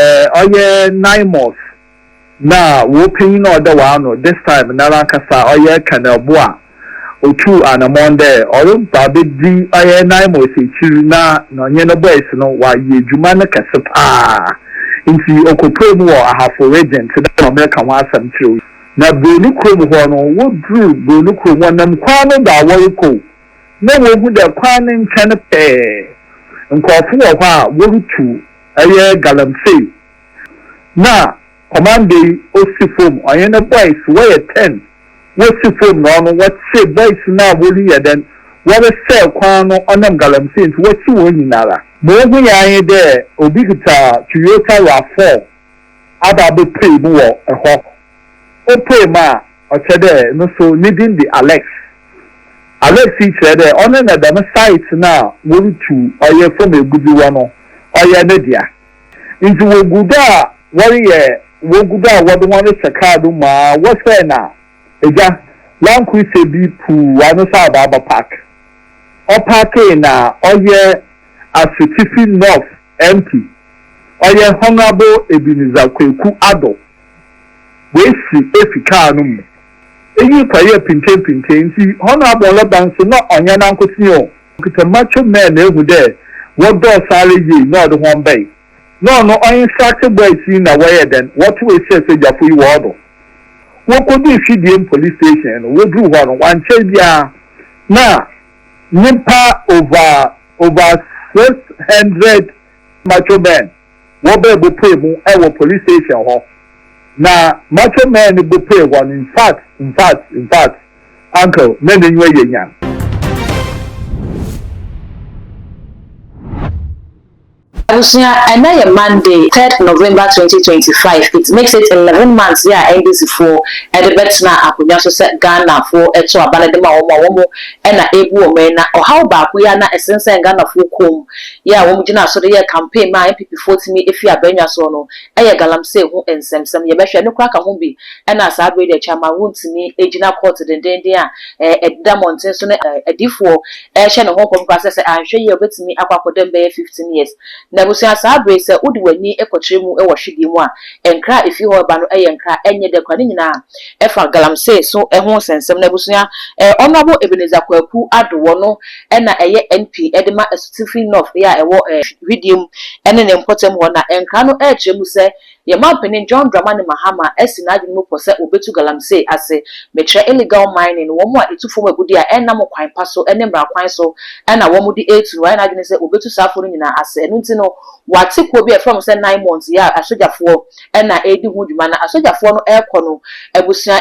Ɔyɛ Naimos no a wopanyin a ɔda w'ano this time noara ankasa, ɔyɛ Colonel Bo a otuu anamɔn dɛ ɔreba abedzi ɔyɛ Naimos ekyir na na ɔnye no boys no wɔayɛ edwuma no kɛse paa ntsi okopuee mu wɔ Ahafo Region tse dɛ ma mereka ho asɛm kyerɛ wo yi. Na Broni kurom hɔ no, wodur Broni kurom, wɔnam kwan no do a wɔrokɔ o, na wohu dɛ kwan no nkyɛn pɛɛ nkorɔfo wɔ hɔ a worutu. ɛyɛ galamsey na kɔmanda yi osi fom ɔnye ne boys wɔyɛ ten wosi fom na ɔno wɔkye boys no a woreyɛ dɛn wɔresɛɛ kwan no ɔnam galamsey ntsi wɔkye hɔn nyinara. Ma ohu yɛn nye dɛ obi kitsa Toyota Rav four aba abepue mu wɔ hɔ. opuee mu a, ɔkyerɛ dɛ no so ne dzin de Alex. Alex yi kyerɛ dɛ ɔno na dɛm site no a worutu ɔyɛ famu egudze wɔ no, ɔyɛ ne dea. Ntsi wogu do a wɔreyɛ wogu do a wɔdze hɔn rehyɛ kaar no mu ara wɔsɛɛ no a, egya, Land Cruiser bi puuw ano sɛ abaaba park. Ɔpaakee na ɔyɛ Asutifi North MP, ɔyɛ Honourable Ebenezer Kweku Addo. woesi efi kaar no mu. Iyi kɔyɛɛ pintseinpintsei ntsi Honourable Lorban so nna ɔnnyɛ nankotsee o, okitsa macho men na ehu dɛ wɔdɔɔ sõ ara yie na ɔdze hɔn bae. Nna ɔno ɔinstructee boys yi na wɔyɛɛ dɛn, wɔtowee hyɛɛ sogyafo yi hɔn do. Wokoduu Hwidiem Police Station no, wodur hɔ no, wɔannkyɛr biara na nyimpa over over six hundred macho men, wɔbɛɛ bopue mu wɔ police station hɔ na macho man no bopue hɔ no infact infact infact uncle na nenyiwa yɛ nyan. Abusua, ɛnɛ yɛ Monday, third November twenty twenty five, it makes it eleven months yɛ a NDC foɔ de bɛtena akonnwa so sɛ Ghana foɔ ɛto aba no de ma wɔn a wɔn na ɛrebu wɔn yi na ɔhaw baako yi a na ɛsensɛn Ghanafoɔ kɔn mu Yɛ a wɔgyinaa so de yɛɛ campaign maa NPPfoɔ tumi fii abrannwa soɔ no yɛ galamsey ho nsɛmsɛm. Yɛbɛhwɛ, ɛno koraa ka ho bi na saa berɛ yi deɛ Chairman wontumi gyina court dendeenden a ɛdeda mmɔnten so ne adiyifoɔ rehyɛ ne ho nkɔm koraa sɛ sɛ anhwɛ yie a ɔbɛtumi akɔ akɔda mu bɛyɛ fifteen years. Na abusua saa berɛ yi sɛ wode w'ani kɔkyerɛ mu wɔ hwedeɛ mu a, nkra a ɛfiri hɔ reba no yɛ nkra a ɛnyɛ dɛ koraa. Ne nyinaa ɛfa galamsey so ho nsɛmsɛm. Na abusua, Honourable Ebenezer Kwaku Addo, wɔno na ɛyɛ NP de ma Asutifi North a ɛwɔ Hwideɛ mu ne ne mpɔtam hɔ na nkra no kyerɛ mu sɛ, Yɛn Mampanin John Dramani Mahama asi n'adwene mu pɔ sɛ wɔbɛtu galamsey ase, mekyerɛ illegal mining, wɔn a ɛtu fam agudeɛ a ɛnnam kwan pa so ne mmara kwan so na wɔde retu no, wɔayɛ n'adwene sɛ wɔbɛtu saa afoɔ no nyinaa ase. Ɛno nti no, wɔate kuo bi a yɛfrɛ wɔn sɛ Nine Months, yɛ a asogyafoɔ, na ɛredi ho dwuma na asogyafoɔ no rekɔ no, abusua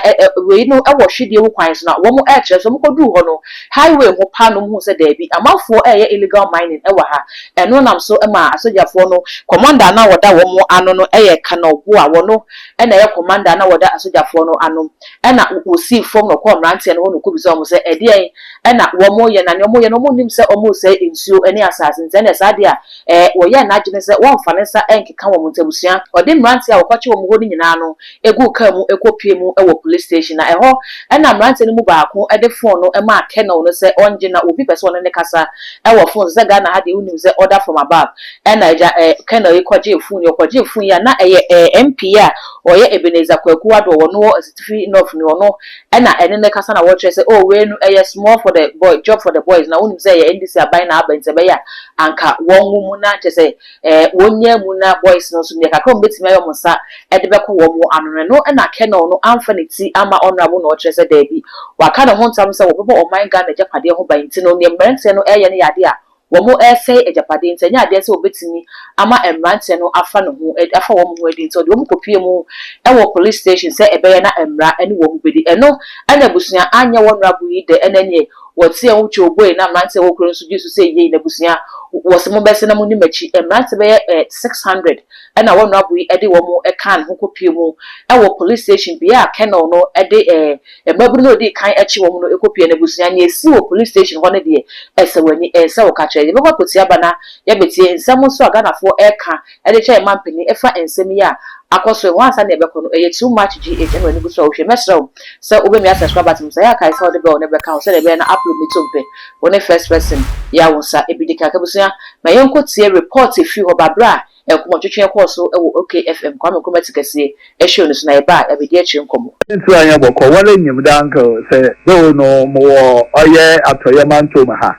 wei no wɔ hwedeɛ mu kwan so na wɔn rekyerɛ so, wɔn kɔduru hɔ no highway ho paa na wɔn huu sɛ daabi amanfoɔ reyɛ illegal mining wɔ ha, ɛno nam so maa asogyafoɔ no. Commander a na ɔda wɔn ano no yɛ Colonel Boa, wɔno na ɛyɛ commander a na wɔda asogyafoɔ no ano, ɛna wɔsii fam na ɔkɔɔ mmeranteɛ no hɔ na ɔkɔbisaa wɔn sɛ ɛdeɛn na wɔn reyɛ na deɛ wɔn reyɛ no wɔn nnim sɛ wɔn resɛe nsuo ne asaase nti ɛnneɛ saa adeɛ a Ɛɛ, wɔyɛɛ n'adwene sɛ wɔremfa ne nsa nkeka wɔn nti, abusua ɔde mmeranteɛ a wɔkɔkyere wɔn hɔ no nyinaa no guu kaa mu kɔpuee mu wɔ polis station, na ɛhɔ na mmeranteɛ no mu baako de fon no maa Colonel no sɛ ɔngye, na obi pɛ sɛ ɔne no kasa wɔ fon so, sɛ Ghana ha deɛ wonim sɛ order from above, ɛna agya Colonel yi kɔgyee fon yi, ɔkɔgyee fon yi a na ɛyɛ MP a ɔyɛ Ebenezer Kwaku Addo, ɔno wɔ Asitifi North ni, ɔno Ɛna ɛne no kasa na wɔkyerɛ sɛ oh wei no ɛyɛ small for the boy job for the boys na wonim sɛ ɛyɛ NDC aban na aba nti ɛbɛyɛ a anka wɔn wo mu na kyɛ sɛ eh wɔn nyaa mu na boys no nso deɛ kakra wɔn bɛtumi ayɛ wɔn nsa ɛde bɛkɔ wɔn ano no ɛno ɛna Colonel no amfa ne ti ama Honourable na ɔkyerɛ sɛ daabi waka ne ho ntam sɛ wɔbɛbɔ ɔman Ghana agyapadeɛ ho ban nti no neɛ mmeranteɛ no ɛyɛ no yɛ adeɛ a wɔresɛe agyapade nti ɛnyɛ adeɛ sɛ wɔbɛtumi ama mmeranteɛ no afa ne ho adi, afa wɔn ho adi nti ɔde wɔn kɔpuee mu wɔ police station sɛ ɛbɛyɛ na mmara ne wɔn bɛdi. Ɛno na abusua anyɛ wɔn rabu yi dɛ, ɛnna ɛneɛ wɔteɛm wotwa oboe na mmeranteɛ wɔ kuro no so gye so sɛ yei n'abusua, wɔse mobɛse na monni m'akyi. Mmeranteɛ bɛyɛ six hundred na wɔn rabu yi de wɔn kaa ne ho kɔpuee mu wɔ police station bea a Colonel no de Mmabunu no a ɔdii kan kye wɔn no kɔ pia n'abusua. Nea esii wɔ police station hɔ no deɛ, ɛsɛ w'ani. Ɛnsɛ wo ka kyerɛ. Yɛbɛkɔ akɔtua ba na yɛabetie nsɛm nso a Ghanafoɔ reka de kyerɛ yɛn mampanin ɛfa nsɛm yi a akɔ so yi ho ansa na yɛbɛkɔ no. Ɛyɛ too much GH ɛna w'ani gu so a wohwɛ. Mɛsrɛ wo sɛ wobɛmia subscribers no. Sɛ ɛyɛ a kae sɛ wode bell no bɛka ho sɛdeɛ ɛbɛyɛ na upload no to mpɛ. Wone first person. Yea wo nsa. Ɛbi dekan. Abusua, ma yɛnkɔtie report a ɛfiri hɔ ba berɛ a Nkɔmmɔ twetwee kɔɔ so wɔ OK FM, Kwame Nkrumah Ti Kɛseɛ, show no so, na yɛbaa abɛdi akyire nkɔmmɔ. Nso anyɛ bɔkɔ wara nyim dɛ anka sɛ dɛ ono mowɔ ɔyɛ atɔyɛ mantɔw mu ha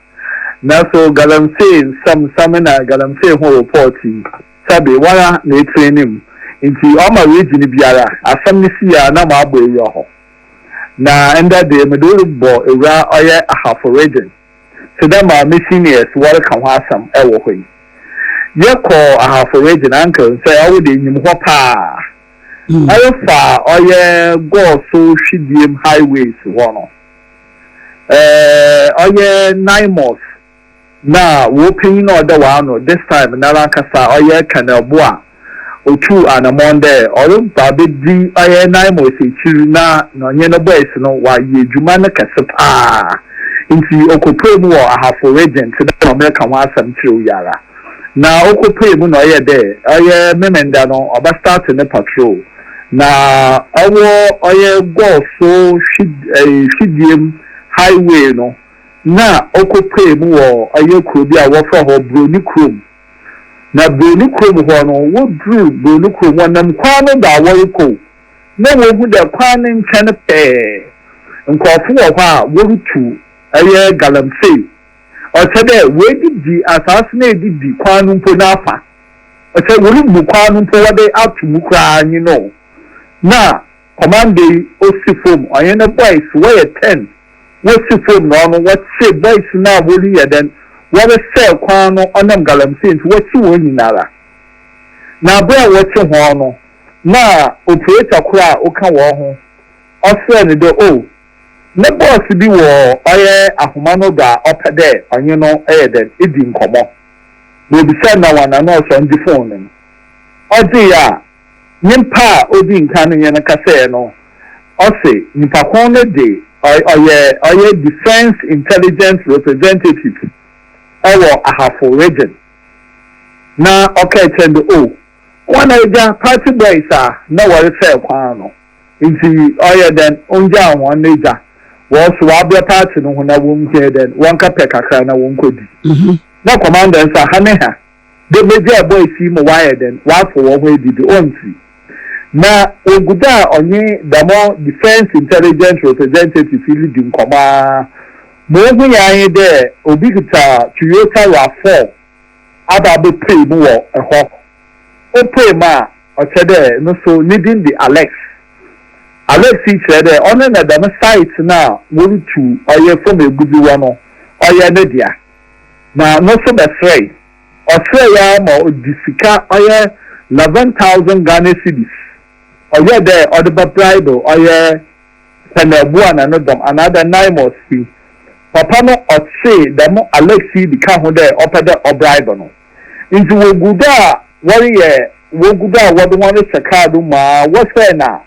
naso galamsey nsɛm nsɛm na galamsey ho report yi sɛbe wara na etire ne mu nti ɔma region biara asɛm no si a na mo abɔ ewura hɔ na ndɛ de mede wo bɔ ewura ɔyɛ ahafo region te dɛ ma missionaires wɔreka ho asɛm wɔ hɔ yi. Yɛkɔɔ Ahafo Region, Uncle nsɛ ɔwo de inyim hɔ paa. Na yɛfaa ɔyɛ Gɔɔso Hwidiem Highways hɔ no, eh, ɔyɛ Naimos na w'opanyin a ɔda w'ano this time nara ankasa ɔyɛ Colonel Boah. Otuu anamɔn dɛ ɔreba abedzi ɔyɛ Naimus ekyir na ɔnye no boys no wɔayɛ edwuma no kɛse paa. Ntsi okopuee mu wɔ Ahafo Regent dɛ ɔmmbɛka ho asɛm tserew yi ara. Na okopuee mu na ɔyɛɛ dɛ ɔyɛ Memenda no ɔbɛstart ne patrol na ɔwɔ ɔyɛ Gɔɔso hwid ɛɛ hwidie mu highway no na okopuee mu wɔ ɔyɛ kuro bi a wɔfrɛ hɔ Broni Kurom. Na Broni kurom hɔ no, woduruu Broni kurom, wɔnam kwan no do a wɔrokɔ o, na wohu dɛ kwan no nkyɛn pɛɛ nkorɔfo wɔ hɔ a worutu ɔyɛ galamsey, ɔkyerɛ dɛ woedidi asaase no a edidi kwan no mpo n'afa, ɔkyerɛ worubu kwan no mpo wɔdze ato mu koraa nye no o, na Commando yi osi fom ɔnye ne boys wɔyɛ ten wosi fom na ɔno wɔkye boys no a wori yɛ dɛn wɔresɛɛ kwan no ɔnam galamsey nti wɔkye wɔn nyinara na bere a wɔkye hɔn no na operator kor a oka wɔn ho ɔserɛ no dɛ oh ne boss bi wɔ ɔyɛ ahoma no do a ɔpɛ dɛ ɔnye no yɛ dɛn edi nkɔmɔ na obisa no na wɔana na ɔsɔn gye phone no no ɔgyee a nyimpa a odzi nkan no nye no kasae no, ɔse nyimpa kõ no dze ɔyɛ ɔyɛ Defence Intelligence Representative wɔ Ahafo Region na ɔkaa kyerɛ no dɛ, Oh, woana egya party boys a nna wɔresɛɛ kwan no ntsi ɔyɛ dɛn onngyaa hɔn no egya hɔ so wɔabrɛ party no ho na wonnhia dɛn wɔnkɛpɛ kakra na wɔnkɔdi na commanders a ha ne ha. dɛ Medwaa boys yi ma wɔayɛ dɛn, wɔafa hɔnho edzi do, o ntsi na wogu do a ɔnye dɛm Defence Intelligence Representative yi ridzi nkɔmbɔ ara ma ohui ara nye dɛ obi kitsa Toyota Rav-Four aba abepue mu wɔ hɔ. Opue mu a, ɔkyerɛ dɛ no so ne dzin dze Alex. Alex yi kyerɛ dɛ ɔno na dɛm site no a worutu ɔyɛ famu egudzi wɔ no, ɔyɛ ne dea. na no nso bɛsrɛe. Ɔsrɛe ara ma ɔde sika ɔyɛ 11,000 Ghana cedis ɔyɛɛ dɛ ɔde bɛ bribe ɔyɛ Pɛnɛɛboa na no dɔm anaadɛ Naimos fi. Papa no ɔtsee dɛm Alex yi bi ka ho dɛ ɔpɛ dɛ ɔbribe no. Ntsi wogu do a wɔreyɛ wogu do a wɔde hɔn rehyɛ kaar do mu ara wɔhwɛe na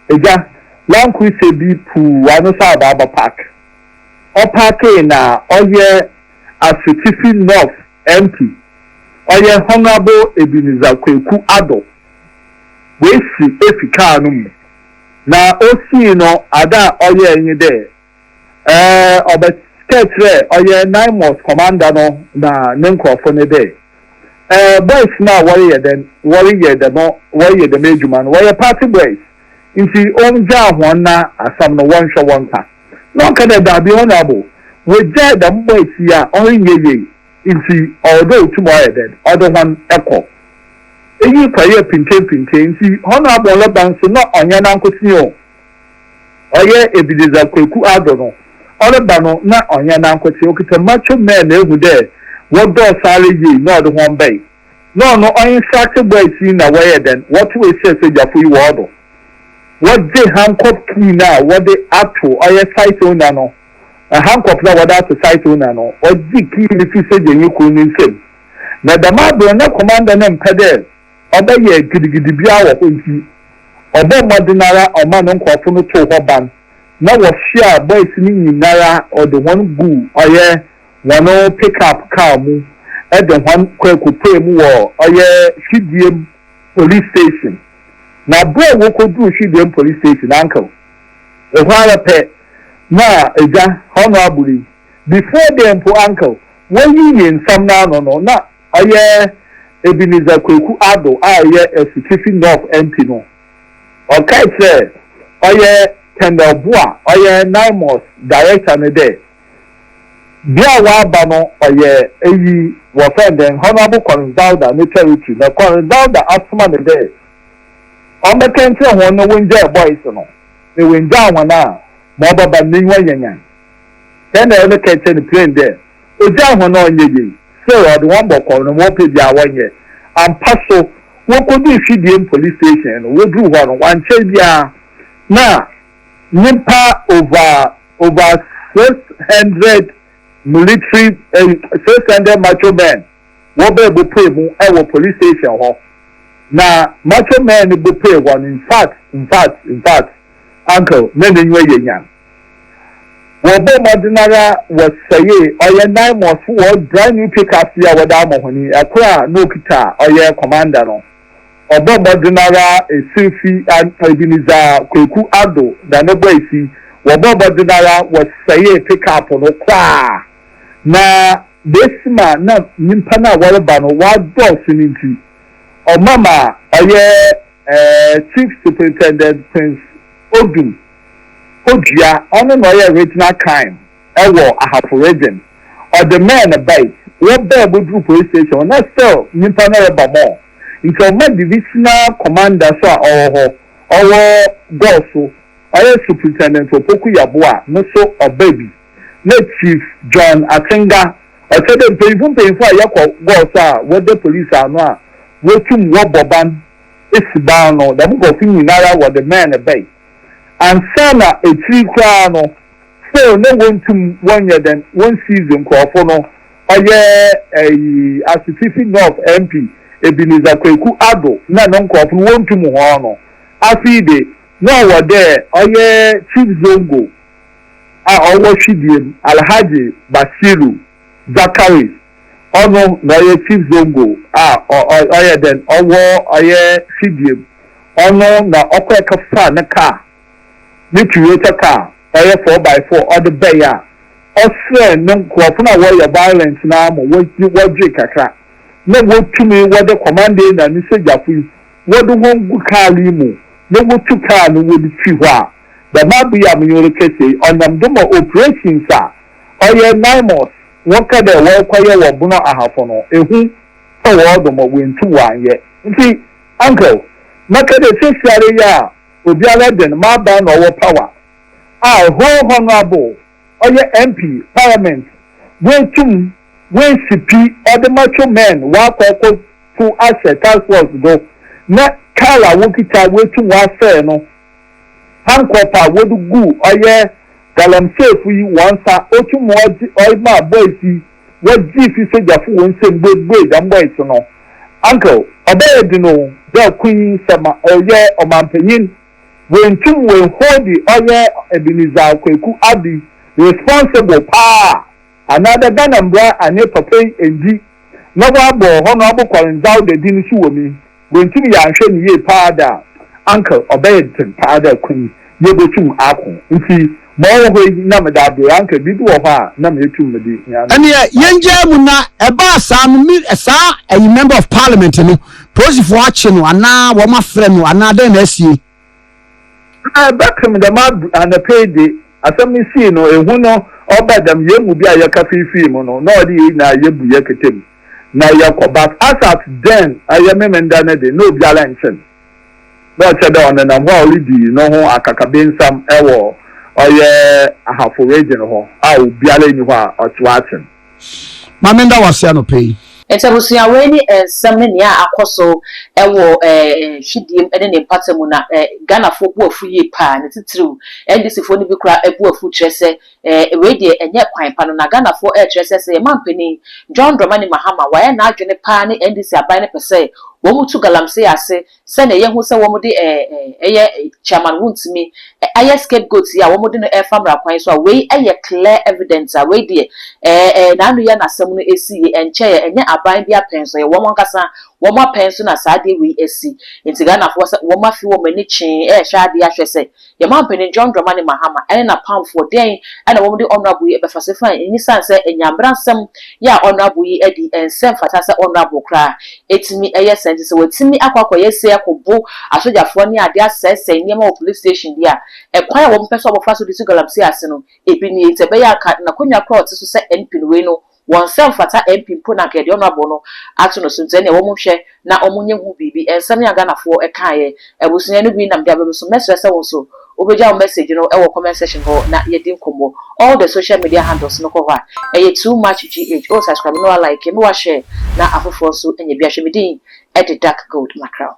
Egya, Land Cruiser bi puuw ano sɛ abaaba park. ɔpaakee na ɔyɛ Asutifi North MP, ɔyɛ Honourable Ebenezer Kweku Addo. Oesi efi kaar no mu. Na osii no, adze a ɔyɛe nye dɛ, ɔbɛkɛɛ kyerɛɛ ɔyɛ Naimos Commander no na ne nkorɔfo no dɛ, Boys no a wɔreyɛ dɛn, wɔreyɛ dɛm wɔreyɛ dɛm edwuma no, wɔyɛ party boys. ntsi ongyaa hɔn na asɛm no wɔnhwɛ wɔnkã. Na ɔka dɛ, Dabi, honourable, wogyaa dɛm bɔ etsie yi a ɔrennyɛ yie, ntsi ɔwɔ dɛ otum ɔyɛ dɛn, ɔdze hɔn kɔ. Iyi kɔyɛɛ pintenpinten, ntsi honourable no ba nso na ɔnnyɛ nankotsee o, ɔyɛ Ebenezer Kweku Addo no, ɔreba no na ɔnnyɛ nankotsee, okitsa macho men a ehu dɛ wɔdɔɔ sara yie na ɔdze hɔn bae. na ɔno ɔinstructe boys yi na wɔyɛ dɛn, wɔto ehyɛ sogyafo yi wɔn do. Wɔgye handcuff key no a wɔde ato ɔyɛ site owner no, handcuff no a wɔde ato site owner no, ɔgye key no fi sogyanyi kor ne nsamu. Na dɛm aber no na commander no mmpɛ dɛ ɔbɛyɛ gidigidi biara wɔ hɔ ntsi, ɔbɔɔ mbɔdzen ara ɔmaa no nkorɔfo no too hɔ ban na wɔsoaa boys no nyinara ɔdze hɔn guu ɔyɛ Hɔn pick-up kaar mu dze hɔn kɔekopuee mu wɔ ɔyɛ Hwidiem Police Station, na aber a wokodur Hwidiem Police Station ankaw hɔ ara pɛ na Egya Honourable yi, before then mpo ankaw woeyiyi nsɛm no ano no, na ɔyɛ Ebenezer Kweku Addo a ɔyɛ Asutifi North MP no, ɔkae kyerɛɛ ɔyɛ Kendall Boa, ɔyɛ Naimos Director no dɛ, Bea a ɔaba no ɔyɛ eyi, wɔfrɛ no dɛn, Honourable Collins Dauda ne territory, na Collins Dauda asoma no dɛ ɔmbɛkɛ nkyerɛ hɔn na wongyaa boys no, na oenngyaa hɔn a, ma ɔbɛba no n'enyiwa nyanyan. Dɛn na ɔrebɛkɛ akyerɛ no plain dɛ, ogyaa hɔn a ɔnnyɛ yie, still ɔdze hɔn bɔkɔɔ na ma wɔpɛ biara wɔnyɛ. Ampa so, wokodur Hwidiem police station no, wodur hɔ no, wɔannkyɛr biara na nyimpa over. over six hundred military eh, six hundred macho men wɔbɛɛ bopue mu wɔ police station hɔ na macho men no bopue hɔ no in fact in fact in fact uncle na n'enyiwa yɛ nyan wɔbɔ mmɔden ara wɔsɛe ɔyɛ nine mɔs wɔ brand new pickups bi a wɔde ama hɔn yi ɛkoro a na okita ɔyɛ commander no. Ɔbɔ mbɔdzen araa esir fi a, bi nye dza Kweku Addo da no bɔe fi, wɔbɔɔ mbɔdzen araa wɔsɛɛe pick-up no koraa, na besi ma nna nyimpa no a wɔreba no wɔadɔɔ so no ntsi, ɔma ma ɔyɛ Chief Superintendent Prince Odum Odua, ɔno na ɔyɛ Regional Crime. wɔ Ahafo Region. Ɔde man no bae, wɔbaa mu duru Police Station na still nyimpa no reba more. Nkyɛ ɔma Divisional Commander so a ɔwɔ hɔ, ɔwɔ Gor so, ɔyɛ Superintendent Opoku Yeboah no so ɔbaa bi, na Chief John Atsenga, ɔkyerɛ dɛ mpanyimfo mpanyimfo a yɛkɔ Gor so a wɔda Police ano a wotum wɔbɔ ban si ban no, dɛm nkorɔfo nyinara wɔde man no bae. Ansaana ekyir koraa no, So na wonntum wɔnyɛ dɛn wonsiiz nkorɔfo no, ɔyɛ ɛyi Asutifi North MP Ebenezer Kweku Addo na no nkorɔfo no wonntum hɔn no. Afei de, na ɔwɔ dɛ ɔyɛ Chief Zongo a ɔwɔ Hwidie mu, Alhaji Bashiru Zakari, ɔno na ɔyɛ Chief Zongo a ɔyɛ dɛn ɔwɔ ɔyɛ Hwidie mu, ɔno na ɔkɔɛkɛfaa no kaa. ne Toyota car ɔyɛ four by four ɔde bae a, ɔsrɛɛ ne nkorɔfo no a wɔyɛ violent no ara ma wɔgyee kakra na wotumii wɔde Komande na ne sogyafo yi wɔde hɔn gu kaar yi mu na wotu kaar no wɔde fi hɔ a, dɛm aber yi a menye wo rekasa yi, ɔnam do ma operations a ɔyɛ Naimos wɔkã dɛ wɔrekɔyɛ wɔ Bono Ahafo no, ehu tɔ hɔn do ma woenntum wɔannyɛ. Ntsi, Uncle, mɛkã dɛ seseiara yi a. Obiara dɛn m'abaa na ɔwɔ power a whole honourable ɔyɛ MP parliament wei tum wei si pi ɔde macho men wakɔ ɛkɔ to ahyɛ task force do na car a wokita wei tum wasɛɛ no handcup a wode gu ɔyɛ galamseyfo yi wɔn nsa otum ɔgye ɔyɛ maa boys yi wɔgyee fi sogyafo hɔn nsamu buebuei dɛm bɔe so no, Uncle, ɔbɛyɛ dzen o dɛ ɔkõnyi sɛ ma ɔyɛ ɔmampanyin. Woenntum woennhoondi ɔyɛ Ebenezer Kweku Addy responsible paa anaadɛ Ghana mbra annye papa yi enndzi na wɔabɔ Honourable Kwar Ndzawda din so wɔ mu yi. Wentimi yɛannhwɛ no yie paa dɛ a, anka ɔbɛyɛ dzen paa dɛ kwan yi yebotum aakõ. Ntsi ma ɔwɔ hɔ yi, nna meda do, anka biribi wɔ hɔ a nna meetum medze hia no. Nneɛ yɛngyaa mu na ɛbaa saa no me saa ɛyi member of parliament no polisifoɔ akye no anaa wɔn afrɛ no anaa dɛn na asie. Na ebɛkem dɛm ab anapa yi de, asɛm no sii no, ehu no ɔbaa dɛm hɛn mu bi a yɛka fiifii mu no, na ɔde hɛn nyina yebu hɛn kete mu, na yɛkɔ. But Asat dɛɛn ayɛ Memenda no de, na obiara nnkye no, na ɔkyerɛ dɛ ɔnenam hɔ a oridzi noho akakabensɛm wɔ ɔyɛ Ahafo region hɔ a obiara nnyi hɔ a ɔtse hɔ akye no. Maame nda wo ase anɔpa yi. Nti abusua wei ne nsɛm ne nea akɔ so wɔ hwidie mu ne ne mpata mu na Ghanafoɔ bo afu yie paa ne titiriw NDC foɔ no bi koraa abu afu kyerɛ sɛ wei deɛ ɛnyɛ kwan pa no na Ghanafoɔ ɛrekyerɛ sɛ sɛ yɛn manpanin John Dramani Mahama wayɛ n'adwene paa ne NDC aban no pɛ sɛ wɔn tu galamsey ase Sɛnea yɛahu sɛ wɔde eh eh ɛyɛ eh chairman wontumi eh ayɛ scapegoat yi a wɔde no ɛrefa mmara kwan so a wei ɛyɛ clear evidence a wei deɛ eh eh n'ano yɛ n'asɛm no ɛsi yie ɛnkyɛeɛ ɛnyɛ aban bi apɛn so ɛyɛ wɔn ankasa wɔn apɛn so na saa adeɛ wei asi nti Ghanafoɔ sɛ wɔn afi wɔn ani kyee ɛrehwɛ adeɛ ahwɛ sɛ Yɛn manpanin John Dramani Mahama ne n'apamfoɔ dɛn na wɔn de Honourable yi bɛfa so fine nyisan sɛ nya mbrasɛm yɛ a Honourable yi adi nsɛ mfata sɛ Honourable koraa ɛtumi yɛ saa nti sɛ watumi akɔ akɔ yɛ sei akɔ bo asogyafoɔ ne adeɛ asɛesɛe nneɛma wɔ police station deɛ a ɛkwan a wɔn pɛ sɛ wɔn fa so de si galamsey ase no ɛbi nie nti ɛbɛyɛ a anka nakonwa koraa ɔte so sɛ MP no wei no Wɔn nsɛm fata MP mpo na anka yɛde honourable no ato no so nti ɛneɛ wɔn nhwɛ na wɔn nyɛ ho biribi. Nsɛm yi a Ghanafoɔ kaeɛ abusua no bi nam de aba me so. Mɛsrɛ sɛ wo nso wo bɛgya wo message no wɔ comment section hɔ na yɛadi nkɔmmɔ. All the social media handles no kɔ hɔ a ɛyɛ too much GH oh subscribe na wa like na wa share na afoforɔ nso nyɛ bi ahwɛ. Me din de Dark Gold Mackerel.